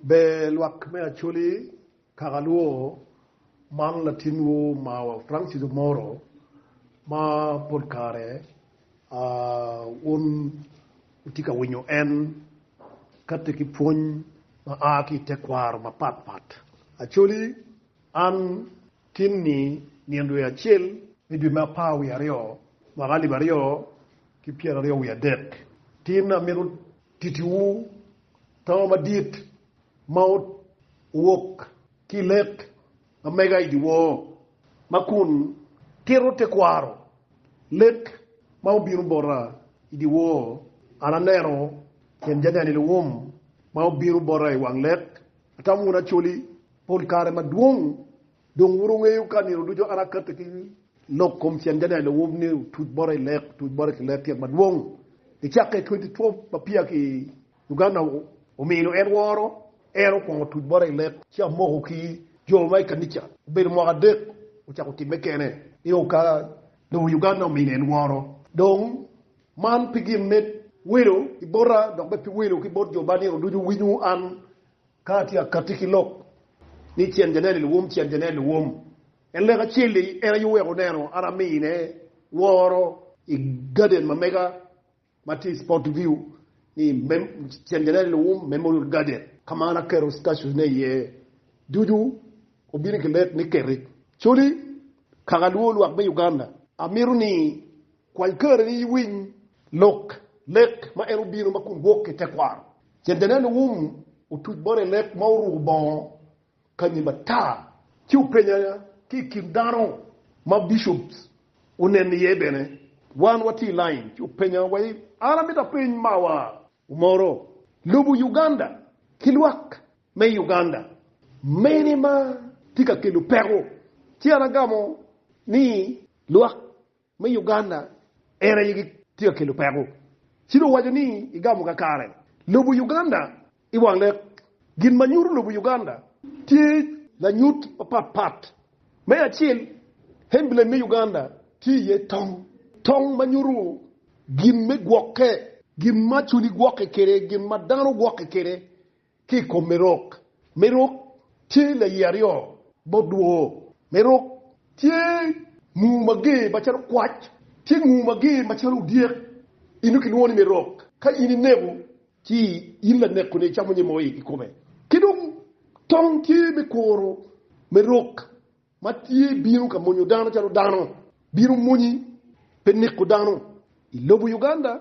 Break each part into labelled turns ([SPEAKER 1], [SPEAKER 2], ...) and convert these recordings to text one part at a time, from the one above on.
[SPEAKER 1] Ber lwak me Acholi kaka lwor man latinwu omarwa Francis Omoro ma pol kare wun wutye ka winyo en kati ki pwony ma a ki i tekwaro mapat pat. Acholi, An tin ni nino dwe acel me dwe me apar wiye aryo mwaka alip aryo ki pyeraryo wiye adek tin amito titiwu, To madit ma owok ki i lek ma mega i dyewor ma kun tito tekwaro lek ma obino bota i dyewor, an aneno tyen janeni luwum ma obino bota i wang lek, atamo wunu acoli pol kare madwong. Dong wun wungeyo ka nino ducu an akatti ki lok kom cen Daniel Owub ni otuc bota i lek, otuc bota ki lek tyet madwong i cakke 2012 ma peya ki Uganda omino en woro, en okwongo otuc bota i lek ci amoko ki jo ma i kanica obedo mwaka adek ocako timme kene nio ka lobo Uganda omino en woro. Dong man pi gin me welo ki bota dok bene pi welo ki bot jo ma nino ducu winyo an Ka atye akatti ki lok ni cen janene luwum cen janene luwum, en lek acel-li en aye oweko oneno an amine woro i gaden ma mega ma tye i Sportview ni cen janene luwum Memorial Garden ka ma an aketo statues-ne iye ducu obino ki lek ni keti. Coli, Kaka luwo lwak me Uganda, amito ni kwany kareni iwiny lok lek ma en obino ma kun wok ki tekwaro Centennial Wum otuc bot i leb ma oruko bongo kanyi matar, ci openye ki i kin dano ma bishops oneno iye bene. Wan watye i lain ci openya wa ni, An amito apeny mawa omoro, Lobo Uganda ki lwak me Uganda mene ma tye ka kelo peko? Ci an agamo ni, Lwak me Uganda en aye gitye ka kelo peko ci dong waco ni igamo kakare lobo Uganda i wang lek. Gin ma nyuto lobo Uganda tye lanyut mapat pat. Me acel, emblem me Uganda tye iye tong, tong ma nyuto gin me gwokke, gin ma culi gwokke kwede, gin ma dano gwokke kwede, ki i kom Merok. Merok tye laye aryo bot dwoo. Merok tye nguu mager macalo kwac, tye nguu mager macalo odyek, eno kilwongo ni Merok. Ka in ineko, ci in laneko-ni icamo nyim moo i kome. Ki dong tong tye me kuro Merok. ma tye bino ka monyo dano calo dano bino monyi pe neko dano i lobo Uganda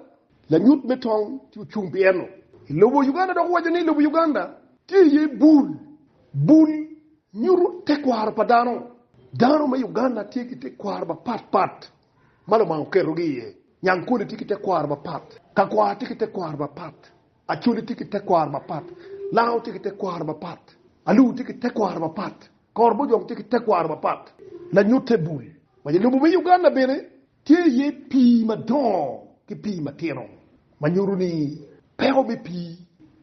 [SPEAKER 1] lanyut me tong tye ocung pi eno i lobo Uganda dok owaco ni lobo Uganda tye iye bul bul nyuto tekwaro pa dano dano me Uganda tye ki tekwaro mapat pat ma lubanga oketo gi iye nyankole tye ki tekwaro mapat kakwar tye ki tekwaro mapat Acholi tye ki tekwaro mapat. Lango tye ki tekwaro mapat. Alur tye ki tekwaro mapat. Kor bojong tye ki tekwaro mapat. Lanyutte bul ma i lobo me Uganda bene tye iye pii madongo ki pii matino ma nyuto ni peko me pii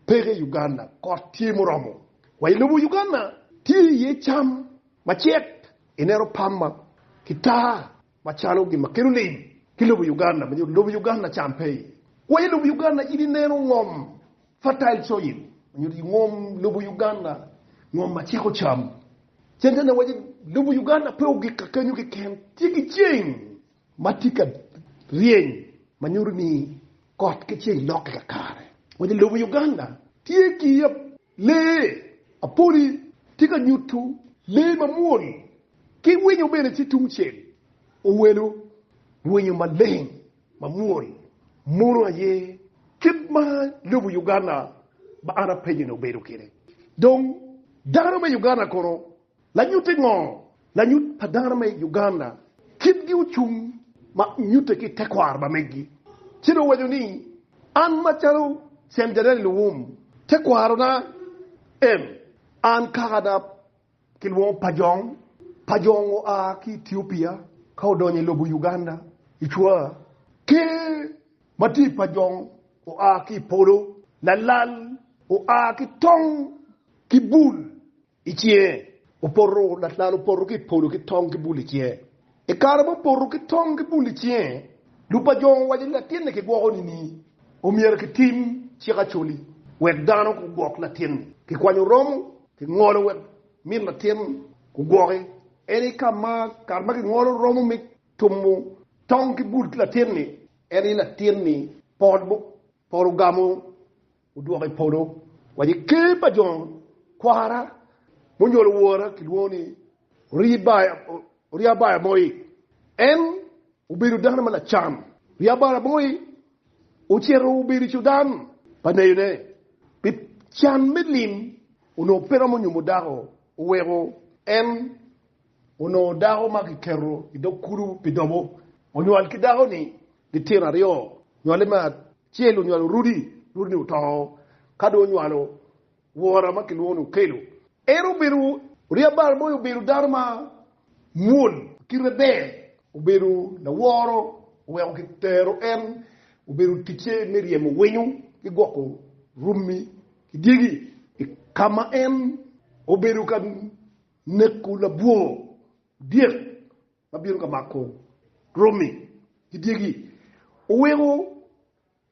[SPEAKER 1] peke i Uganda. Kot tye muromo. Wa i lobo Uganda tye iye cam macek ineno pamba ki taa Macalo gin ma kelo lim ki lobo Uganda ma nyuto lobo Uganda cam pe iye. Kwanyo lobo Uganda in ineno ngom, fertile soil, ma nyuto i ngom lobo Uganda, ngom ma ciko cam. Centennial waco lobo Uganda pe ogik ka kenyo keken, tye ki ceng ma tye ka ryeny ma nyuto ni kot ki ceng lokke kakare. Waco lobo Uganda tye ki yap. Lee, Apoli tye ka nyutu lee mamwol ki winyo bene ci tungcel owelo winyo maleng mamwol mono aye kit ma lobo Uganda ma an apenyo ni obedo kede. Dong dano me Uganda kono Lanyutte ngo? Lanyut pa dano me i Uganda kitgi ocung ma nyutte ki tekwaro pa megi ci dong waco ni an macalo Cen Jadali Luwum tekwaro na en an kaka da kilwongo Pajong, Pajong oa ki Ethiopia ka odonyo i lobo Uganda i cwa ker ma tye i Pajong oa ki i polo, Lalal oa ki tong ki bul I cinge opoto, latlal opoto ki i polo ki tong ki bul i cinge. I kare ma opoto ki tong ki bul i cinge, lupajongo owaco ni latinni kigwoko nining? Omyero kitim cik Acholi wek dano gugwok latinni. Kikwanyo romo, kingolo wek min latin gugwoki. En i ka ma kare ma kingolo romo me tumo tong ki bul ki latinni, en i latinni pol ogamo Odwoka i polo, wa i ker pa jo kwara, munyolo wora kilwongo ni Oriabaya moi. En obedo dano ma lacam. Oriabaya moi ocito obedo cudan pa neyone pi can me lim, onongo pe romo nyumo dako, oweko en. onongo dako ma kiketo i dog kulu pi dobo. Onywal ki dako-ni litino aryo. Nywale me acel onywalo Rudi, Rudi-ni oto. Ka dong onywalo wora ma kilwongo ni Okelo. En obedo oryeb bal moyo, obedo dano ma mwol, kite ber, obedo laworo, oweko kitero en obedo ticce me ryemo winyo ki gwoko rummi ki dyegi. I ka ma en obedo ka. Neko labwor dyek ma bino ka mako romi ki dyegi oweko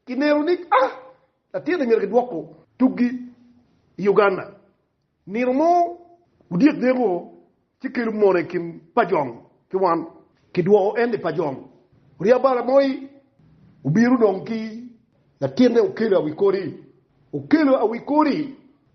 [SPEAKER 1] kineno ni a latinne myero kidwoko tukgi i Uganda. Nino mo, odyek neko ci kelo mone i kin pajong ki wan, kidwoko en i pajong. Oryab bala moi obino dong ki latinne okelo awi kodi, okelo awi kodi.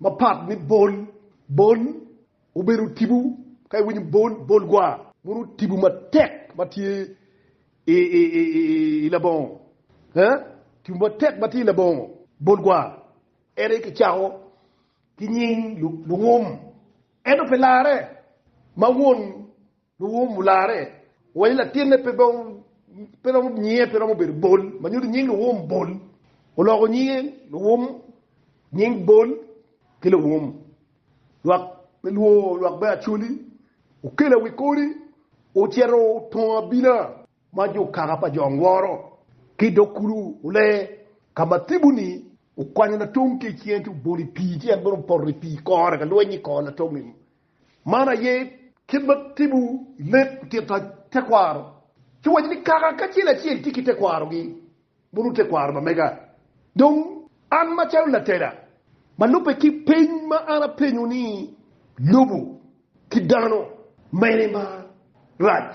[SPEAKER 1] Mapat ni bol, bol, obedo tibu, ka iwinyo bol, bol gwa, meno tibu matek ma tye i labongo, tibu matek ma tye i labongo, bol gwa. En aye kicako ki nying lungum, ento pi larre ma won Luwum olarre waco ni latinne pe romo nyinge pe romo bedo Bol ma nyuto nying Luwum Bol. Oloko nyinge Luwum nying Bol ki Luwum lwak me lwor lwak me Acholi okelo i wi kodi ocito otongo abina ma jo kaka pa jo Ngworo ki dog kulu ole ka ma Thibu-ni okwanyo latongi ki i cinge ci obolo i pii ci en bene opoto i pii kore ka lweny-nyi kore latongi Man aye kit ma timo lek tito tekwaro. Ci wacci ni, Kaka kacel acel tye ki tekwarogi, mono tekwaro ma mega. Dong, an macalo latela, ma lubbe ki peny ma an apenyo ni, Lobo ki dano mene ma rac,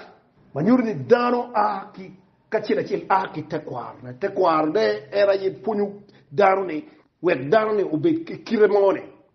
[SPEAKER 1] ma nyuto ni dano a ki kacel acel a ki tekwarone? Tekwarone en aye pwonyo dano-ni wek dano-ni obed ki kite mo-ni.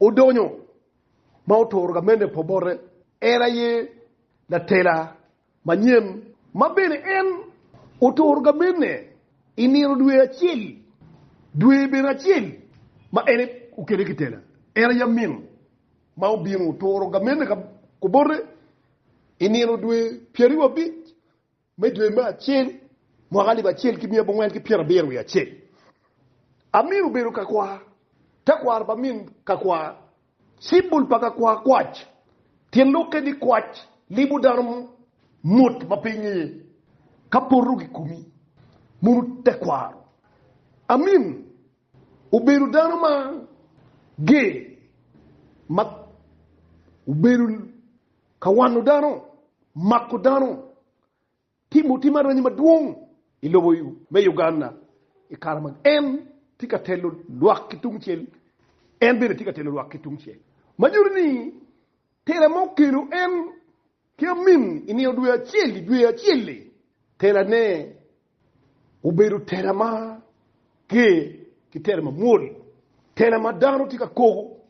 [SPEAKER 1] Odonyo ma oturo gamene pa bote, en aye latela manyen, ma bene en oturo gamene i nino dwe acel, dwe bene acel ma en okele ki tela. En aye amin ma obino oturo gamene ka bote i nino dwe pyeraryo abic. Me dwe me acel, mwaka alip acel ki miya abongwen ki pyera abiro wiye acel, Amir obedo ka kwar, tekwaro pa min ka kwar, cibul pa ka kwar kwac, tyen lokke ni kwac libo dano mot ma pe ingeye, ka poto gikumi, mono tekwaro, Amin. Obedo dano ma ger ma obedo ka wano dano, mako dano, timo tim aranyi madwong i lobo me Uganda i kare ma en tye ka telo lwak ki tungcel, en bene tye ka telo lwak ki tungcel. Ma nyuto ni tela ma okelo en Ki amin i nino dwe acel-li, dwe acel-li, telane obedo tela ma ger ki tela ma mwol, tela ma dano tye ka koko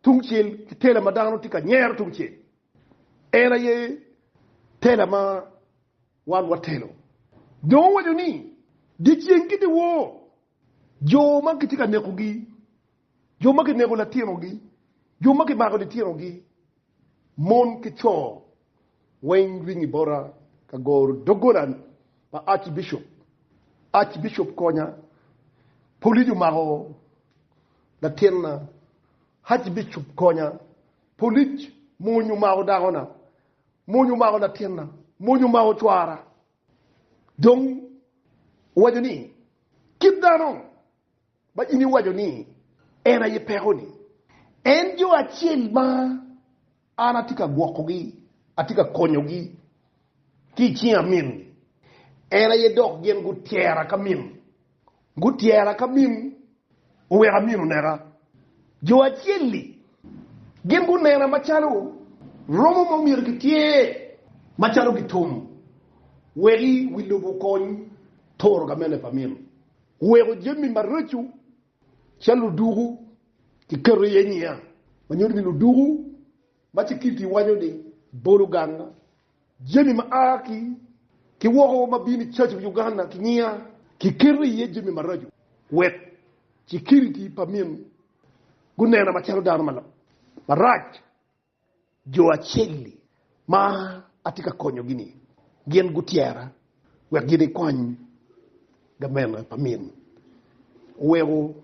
[SPEAKER 1] tungcel ki tela ma dano tye ka nyero tungcel. En aye tela ma wan watelo. Dong owaco ni, Dyeceng ki dyewor, jo ma kitye ka nekogi, jo ma kineko latinogi, jo ma kimako litinogi, Mon ki co weng ring i bota ka goro doggola pa Archbishop. Archbishop konya, police omako latinna. Archbishop konya, polic mony omako dakona. Mony omako latinna. Mony omako cwara. Dong owaco ni, Kit dano Ma in iwaco ni, 'En aye peko-ni. En jo acel ma an atye ka gwokogi, atye ka konyogi ki i cinga min-gi. En aye dok gin gutyera ka min, gutyera ka min oweka min oneka. Jo acel-li gin gunena macalo romo ma omyero gitye macalo gitum, wek i wi lobo okony toro ka mene pa min. Weko jami maraco calo luduku kiketo iye nyinga ma nyuto ni luduku ma Cikilti iwaco ni bolo ganga jami ma a ki woko ma bino icaco pi Uganda ki nyinga kiketo iye jami maraco wek Cikilti pa min gunena macalo dano marac. Jo acel-li ma atye ka konyogi-ni gin gutyera wek gin gikwany gamente pa min. Oweko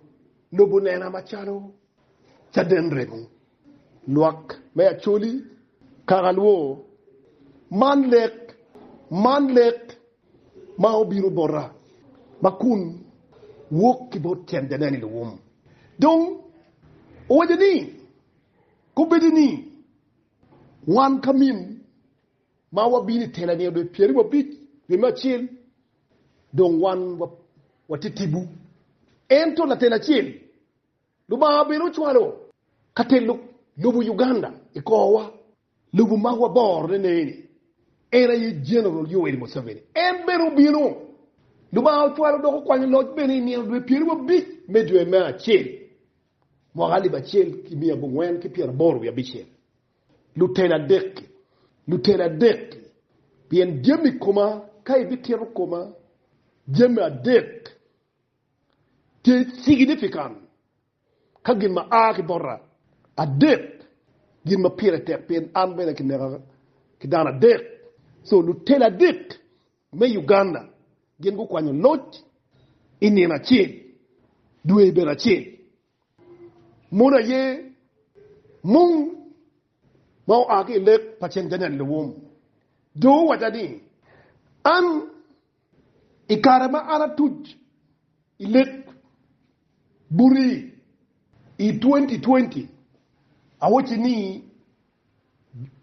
[SPEAKER 1] lobo nena macalo caden remo, lwak me Acholi, kaka lwo. Man lek, man lek ma obino bota ma kun wok ki bot tyen janeni Luwum. Dong owaco ni, Kombeddi ni wan ka min ma wabino i tela nino dwe pyeri wabic dwe me acel dong wan watye tibu. Ento latel acel Lubanga bene ocwalo ka telo lobo Uganda i korwa, lobo ma waborone neni, en aye General Yoweri Museveni. En bene obino. Lubanga ocwalo dok okwanyo loc bene i nino dwe pyeri wabic me dwe me acel. Mwaka alip acel ki miya abongwen ki pyeraboro wiye abicel, luteni adek-ki, luteni adek-ki, pien jami koma, ka ibitito koma, jami adek tye ciginifikan ka gin ma a ki bota, adek gin ma pire tek, pien an bene kineka ki dano adek, co luteni adek me Uganda gin gukwanyo loc i nino acel, dwe i bedo acel. Mono aye mung ma oa ki i lek pa cen Daniel Lewom dong owacca ni, An i kare ma an atuc i lek buti i twenty twenty, awocci ni,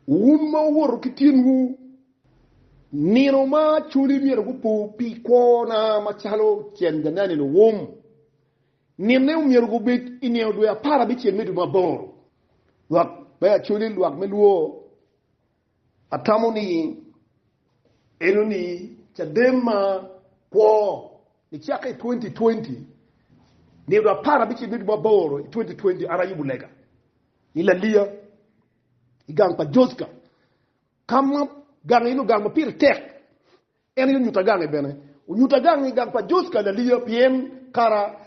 [SPEAKER 1] Wun ma wuwoto ki tinwu nino ma coli myero gupo pi kwona macalo cente me nino wum. Ninne omyero gubed i nino dwe apar abicel me dwe ma aboro. Lwak me acoli lwak me lwor atamo ni enoni caden ma kwo nicako i twenty twenty, nino dwe apar abicel me dwe ma aboro i twenty twenty an ayubo lega. i Laliya i gang pa Jocka, ka ma gang eno gang ma pire tek, en aye onyutta gange bene. Onyutta gange i gang pa Jocka i Laliya pien kara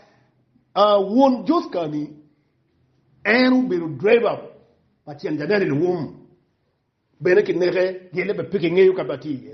[SPEAKER 1] a won Jocka-ni en obedo dreba pa tyen janene luwum, bene kineke gele bene pe kingeyo ka ma atye iye.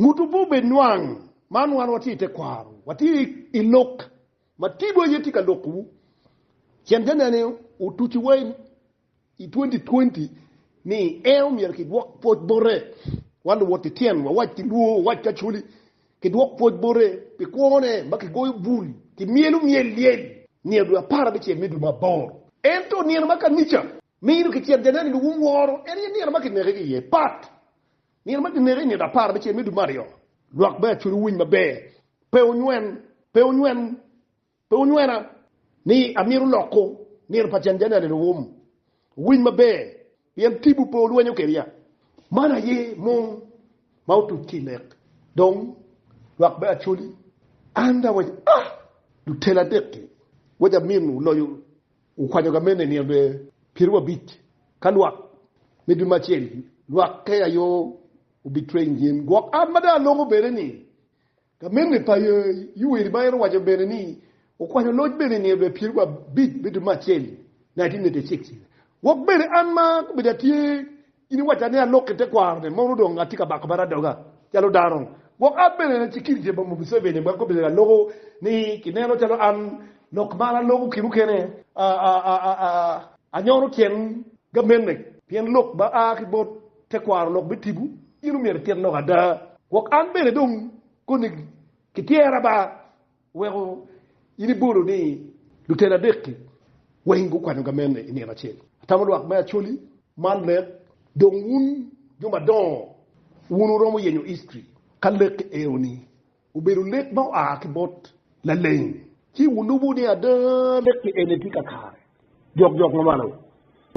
[SPEAKER 1] Nguto pe obed nwang. Man wan watye i tekwaro, watye i lok ma tidwa aye tye ka lokowu. Cen ka nene otuci wa i twenty twenty ni en omyero ki dwok pwoc bote, wan luwot ki tyen wa wac ki luo wac ki acholi ki dwok pwoc bote pi kwo ne ma ki goyo bul ki myelo myel lyel nino dwe apar abicel me dwe ma aboro. Ento nino ma kanica Mino ki tyet janeni luwum woro en aye nino ma kineke ki iye pat. Nino ma kineke i ngeto apar me ceng me dwe me aryo, lwak me acuc wuwiny maber, pe wunywen, pe wunywen, pe wunywena, ni amito loko nino pa cen janeni luwum. Wuwiny maber, pien tibwu pe olwenyo kedia. Man aye mung ma otuc ki i lek. Dong, lwak me acoli, an da wec, ah! Lutela adek-ki, wec amin, wuloyo Wukwanyo gamene i nino dwe pyerabic ka lwak me dwe me acel, lwakke aye wubitwe i nyim gwok an ma dong aloko bene ni gamene pa Yuweri. Ma en owaco bene ni wukwanyo loc bene i nino dwe pyerabic me dwe me acel, 1986, wok bene an ma gubedo atye In iwacca ni alok ki tekwarone, mono dong atye ka bako bad adoga calo dano. Gwok an bene ci kit je boma Museveni wek obed aloko ni kineno calo an lok ma an aloko ki mukene anyono tyen gamente pien lok ma a ki bot tekwaro lok me tipo in omyero itit lok ada gwok an bene dong koni ki tyera ba. Weko in ibolo ni luteni adek-ki weng gukwanyo gamene i nino acel. Atamo lwak me Acholi man lek dong wun jo madongo wun wuromo yenyo history ka lek eno-ni obedo lek ma oa ki bot laleng ci wulubo ni ada lek-ki eni tye kakare jokjok ma malo.